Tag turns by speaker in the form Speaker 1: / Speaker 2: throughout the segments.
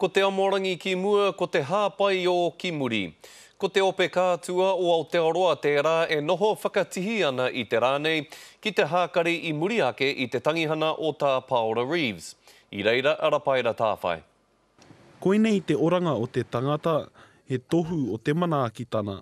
Speaker 1: Ko Te Amorangi ki mua, ko Te Hāpaiō ki muri. Ko te ope kātua o Aotearoa tērā e noho whakatihi ana i te rā nei ki te hākari i muri ake i te tangihana o Tā Paora Reeves. I reira a Rapaira Tāwhai. Koinei
Speaker 2: te oranga o te tangata, he tohu o te manaakitana.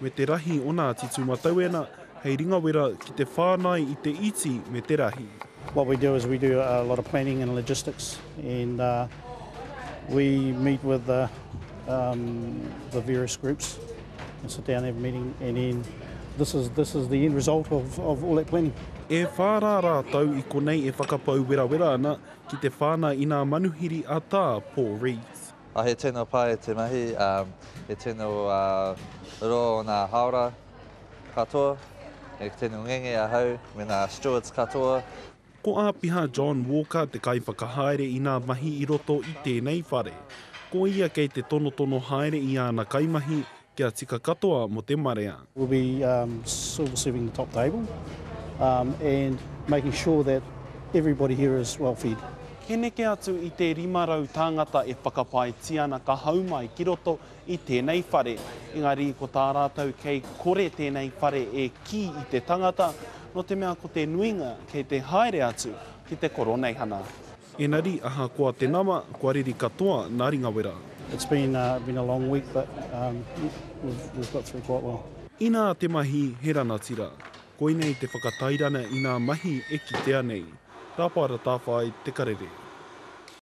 Speaker 2: me te rahi o nā titu matauena hei ringawera ki te whānai i te iti me te rahi. What we do is we
Speaker 3: do a lot of planning and logistics and we meet with the the various groups and sit down and have a meeting and then this is this is the end result of of all that planning. E whā rā
Speaker 2: rātou i konei e whakapau werawera ana ki te whānai i nā manuhiri a Tā Paul Rees. He tino pai
Speaker 4: te mahi, he tino roa o nā haora katoa, he tino ngenge ahau me nā stewards katoa. Ko Āpiha
Speaker 2: John Walker te kaiwhakahaere i nā mahi i roto i tēnei whare. Ko ia kei te tonotono haere i āna kaimahi, Kia tika katoa mo te marea. We'll be
Speaker 3: silver serving the top table and making sure that everybody here is well fed. He neke atu
Speaker 2: i te 500 tāngata e whakapaetia ana ka hau mai ki roto i tēnei whare. Engari ko tā rātou kei kore tēnei whare e kī i te tangata, nō te mea ko te nuinga kei te haere atu ki te koroneihana. Enari ahakoa te nama, kua riri katoa nā Ringawera. It's been a
Speaker 3: been a long week but um we've got through quite well. Inā te mahi
Speaker 2: he ranatira. Koinei te whakatairana inā mahi e kitea nei. Rapa ratāwhai te karere.